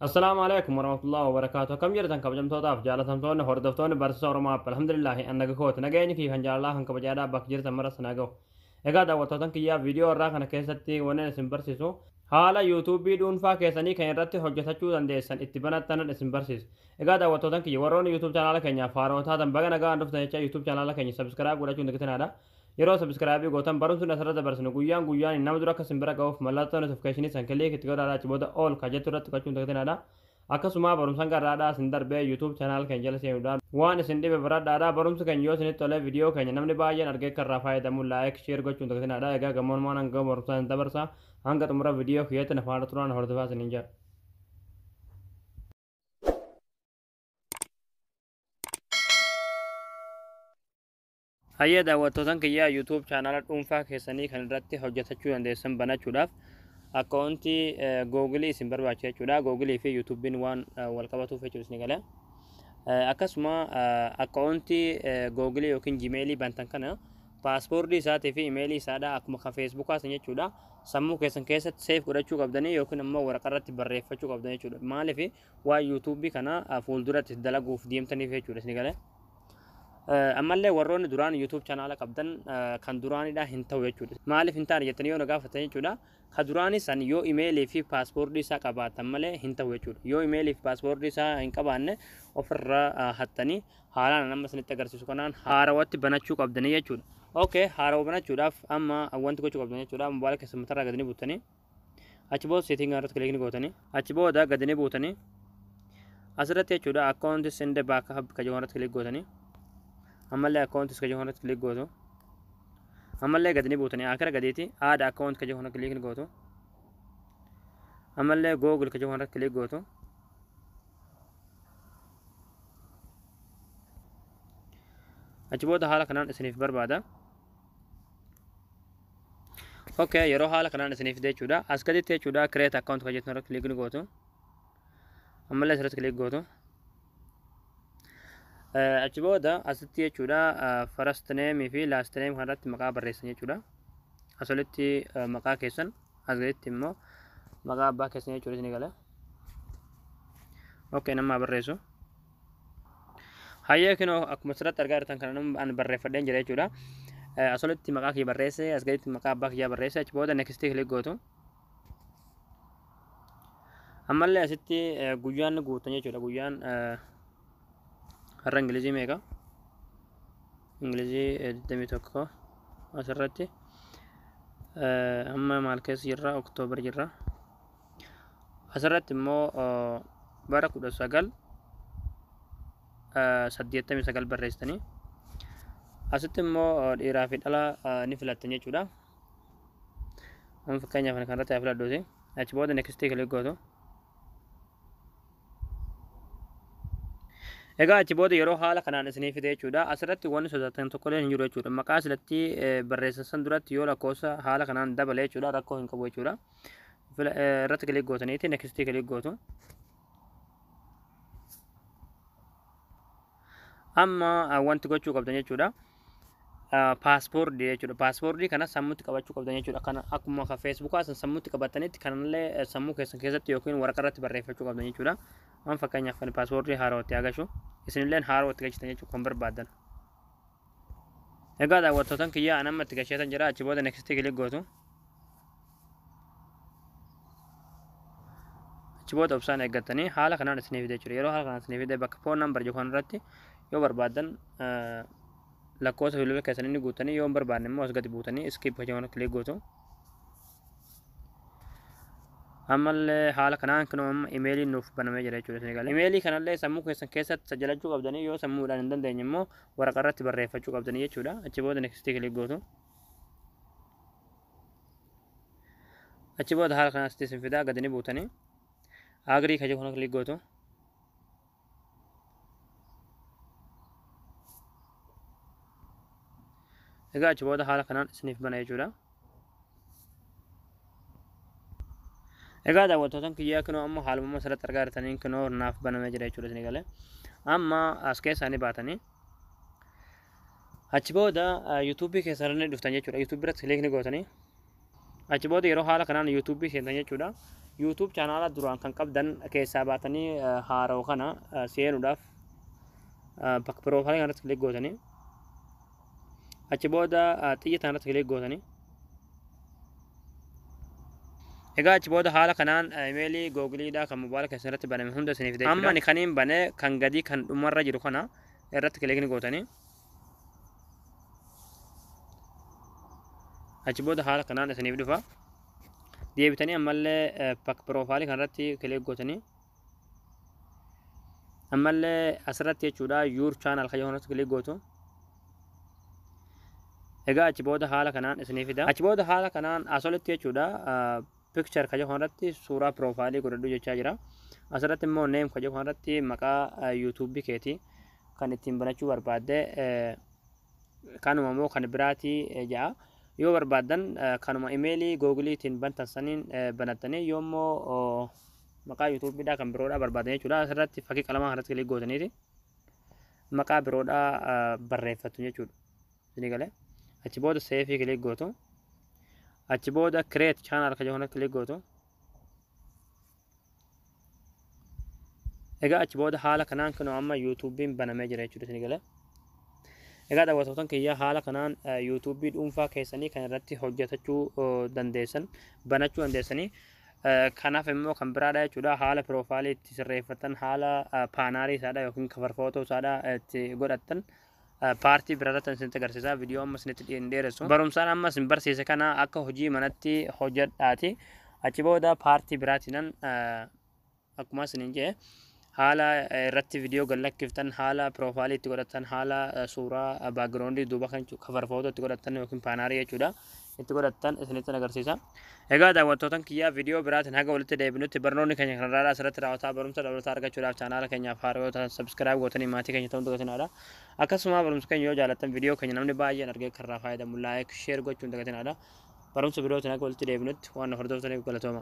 Assalaamu alaikum warahmatullahi wabarakatuh akkam jirtan kabajamtootaaf jaalatamtoonni hordoftoonni barsiisa Oromoo App alhamdulillahi an naga kooti nageenyi fi kan jaalalaa kan kabajaadhaa bakka jirtan maras na gahu egaa daawwattootan kiyyaa viidiyoo irraa kana keessatti wanneen isin barsiisu haala yuutuubii dhuunfaa keessanii kan irratti hojjetachuu dandeessan itti banattanan isin barsiisu egaa daawwattootan kiyya warroonni yuutuub chaanaala keenyaaf haarotaa tan baga nagaan dhuftan jecha yuutuub chaanaala keenya sabiskiraayib godhachuun dagitinaadha Yeroo subscribe gootan barumsi nuti asirratti dabarsinu guyyaan guyyaan nama dura akka isin bira ga'uuf mallattoo notification san click itti godhaa achi booda all ka jettu irratti tuqachuun dagatinadha. Akkasuma barumsan garraadhaa isin darbee YouTube channel keenya jala seenuudhaan waan isin dhibe baradhaadha. Barumsi keenya yoo isinitti tole video keenya namni baay'een argee akka irraa fayyadamu like share gochuun dagatinadha. Egaa gamoonumaan hanga barumsaa isin dabarsa hanga xumura video kiyyaatti na faana turaan hordofaa isiniin jedha. Hayyee daawwattootan kiyyaa YouTube chaanaala dhuunfaa keessanii kan irratti hojjetachuu dandeessan banachuudhaaf akkaawuntii googilii isin barbaachisa jechuudha. Googilii fi YouTube'n waan wal qabatuuf jechuudha isin gala. Akkasuma akkaawuntii googilii yookiin jimeelii bantan kana paaspoortii isaatii fi imeelii isaadha akkuma kan feesbuukaa san jechuudha. Sammuu keessan keessatti seef godhachuu qabdanii yookiin immoo waraqaa irratti barreeffachuu qabdan jechuudha. Maaliif waan yuutuubii kana fuulduratti dalaguuf deemtaniif jechuudha isin gala. Ammallee warroonni duraan YouTube chanaala qabdan kan duraanidha hin ta'u jechuudha. Maaliif hin taane jettanii yoo na gaafattan jechuudha. Ka duraanii san yoo imeelii fi paaspoortii isaa qabaatan malee hin ta'u jechuudha. Yoo imeelii fi paaspoortii isaa hin qabaanne ofirra hattanii haalaan amma isinitti agarsiisu kanaan haarawatti banachuu qabdanii jechuudha. Okay, haarawa banachuudhaaf amma wanti gochuu qabdan jechuudha. Mobaayila keessan matarraa gadi ni buttanii. achi booda setting irratti click ni gootanii achi booda gadi ni buutanii asirratti jechuudha account send back hub ka jiru irratti click gootanii ammallee account ka jiru irratti click gootu ammallee gadi ni buutanii akira gadiiti add account ka jiru irratti click ni gootu ammallee google ka jiru irratti click gootu achi booda haala kanaan isiniif barbaada ok yeroo haala kanaan isinii fidee jechuudha as gaditti jechuudha create account kan jettan irratti click ni gootu ammallee asirratti click gootu Eh, achi booda asitti jechuudha eh, first name fi last name kan irratti maqaa barreessan jechuudha as olitti eh, maqaa keessan as gaditti immoo maqaa abbaa keessan jechuudha isinii gala ok nama barreessu Hayyee kinoo akkuma asirratti argaa jirtan kana nama an barreeffadheen jira jechuudha. Eh, Asirratti maqaa kiyya barreesse, as gaditti maqaa abbaa kiyyaa barreesse, achi booda next click gootu. Ammallee asitti eh, guyyaan guutan jechuudha. Guyyaan eh, har'a Ingilizii meeqa? Ingilizii eh, 21 asirratti. Eh, Amma maal keessa jirra? Oktoobar jirra. Asirratti immoo bara 1989 barreessitanii asitti immoo dhiiraa fi dhala ni filattan jechuudha. Amma fakkeenyaaf kan irratti haa filadhuuti. Achi booda next click gootu. Egaa achi booda yeroo haala kanaan isinii fide jechuudha. Asirratti wanni sodaatan tokkollee hin jiru jechuudha. Maqaa silatti barreessan duratti yoo lakkoofsa haala kanaan dabale jechuudha rakkoo hin qabu jechuudha. Fila- eh, irratti kilik gootaniiti next kilik gootu amma ah, wanti gochuu qabdan jechuudha ah, paaspoortii jechuudha paaspoortii kana sammuutti qabachuu qabdan jechuudha kana akkuma kan feesbuukaa san sammuutti qabatanitti kanallee eh, sammuu keessan keessatti yookiin waraqaa irratti barreeffachuu qabdan jechuudha waan fakkeenyaaf kan paaspoortii haarootti agarsiisu isinilleen haarootti galchitan jechuudha kan barbaadan egaa daawwattootan kiyyaa anamma itti galcheetan jira achi booda next kilik gootu achi booda obsaan eeggattanii haala kanaan isiniif fide jechuudha yeroo haala kanaan isiniif fide bakka foon nambar jiru kanarratti yoo barbaadan lakkoofsa bilbila keessan inni guutanii yoo hin barbaanne immoo as gadi buutanii iskiip jechuun kilik gootu. Ammallee haala kanaan kunoo amma imeeliin nuuf banamee jira jechuudha isin galee. Imeelii kanallee sammuu keessan keessatti sajjalachuu qabdanii yoo sammuudhaan hin dandeenye immoo waraqarratti barreeffachuu qabdanii jechuudha. Achi booda nekstii kilik gootu. achi booda haala kanaan asitti isin fidaa gadi ni buutanii agrii kan jedhu kana kilik gootu egaa achi booda haala kanaan isiniif bana jechuudha egaa daawwattootan kiyyaa kinoo amma haalummaa asirratti argaa jirtaniin kinoo naaf banamee jira jechuudha isin galee amma as keessaa ni baatanii Achi booda YouTube keessan ni dhuftan jechuudha. YouTube irratti click ni gootanii. Achi booda yeroo haala kanaan YouTube seentan jechuudha. YouTube chaanaala duraan kan qabdan keessaa baatanii haarawa kana seenuudhaaf bakka piroofaayilii kanarratti click gootanii. Achi booda xiyya kanarratti click gootanii. Egaa achi booda haala kanaan imeelii googiliidhaa kan mobaala keessan irratti baname hunda isiniif deebiidha. Amma ani kaniin bane kan gadii kan dhumarra jiru kana irratti kilikni gootanii achi booda haala kanaan isiniif dhufa deebitanii ammallee pak piroofaayilii kanarratti kilik gootanii ammallee asirratti jechuudha yuur chaanal kayyoo kanarratti kilik gootu egaa achi booda haala kanaan isiniif fida achi booda haala kanaan asolitti jechuudha Picture ka jedhu kanarratti suuraa profile godhadhu jechaa jira. Asirratti immoo name ka jedhu kanarratti maqaa YouTube keeti kan ittiin banachuu barbaadde kanuma immoo kan biraati ja'a. Yoo barbaaddan kanuma imeelii googiliitiin bantan saniin banattanii yoo immoo maqaa YouTube dhaa kan biroodhaa barbaaddan jechuudha. Asirratti fakkii qalamaa kanarratti kilik gootaniiti maqaa biroodhaa barreeffattu jechuudha. isinii galee achi booda seefii kilik gootu achi booda create channel kan jedhu kilik gootu egaa achi booda haala kanaan kan amma yuutuubiin banamee jira jechuudha isinii galee egaa daawwatootan kiyya haala kanaan yuutuubii dhuunfaa keessanii kan irratti hojjetachuu dandeessan banachuu dandeessanii kanaaf immoo kan biraadha jechuudha haala piroofaayilii itti sirreeffatan haala paanaalii isaadha yookiin kafarfootoo isaadha itti godhattan paartii biraarratti an isinitti agarsiisa viidiyoo amma isinitti hin dheeressu barumsaan amma isin barsiise kana akka hojii manatti hojjedhaati achi booda paartii biraatiinan akkuma isinin jee haala irratti viidiyoo gad lakkiftan haala piroofaalii itti godhatan haala suuraa baagiraawundii duuba kan kafar footoo itti godhatan yookiin paanaarii jechuudha itti godhattan isinitti agarsiisa. Egaa daawwattootan kiyyaa viidiyoo biraatiin haga walitti deebinutti barnoonni keenya kan irraa asirratti raawwataa barumsa dabalataa argachuudhaaf chaanaala keenyaaf haaraa yoo ta'an sabskiraayib gootanii maatii keenya ta'uun dagatinaadha. Akkasuma barumsa keenya yoo jaalattan viidiyoo keenya namni baay'een argee kan irraa fayyadamu laayik sheer gochuun dagatinaadha. Barumsa birootiin haga walitti deebinutti waan hordoftaniif galatooma.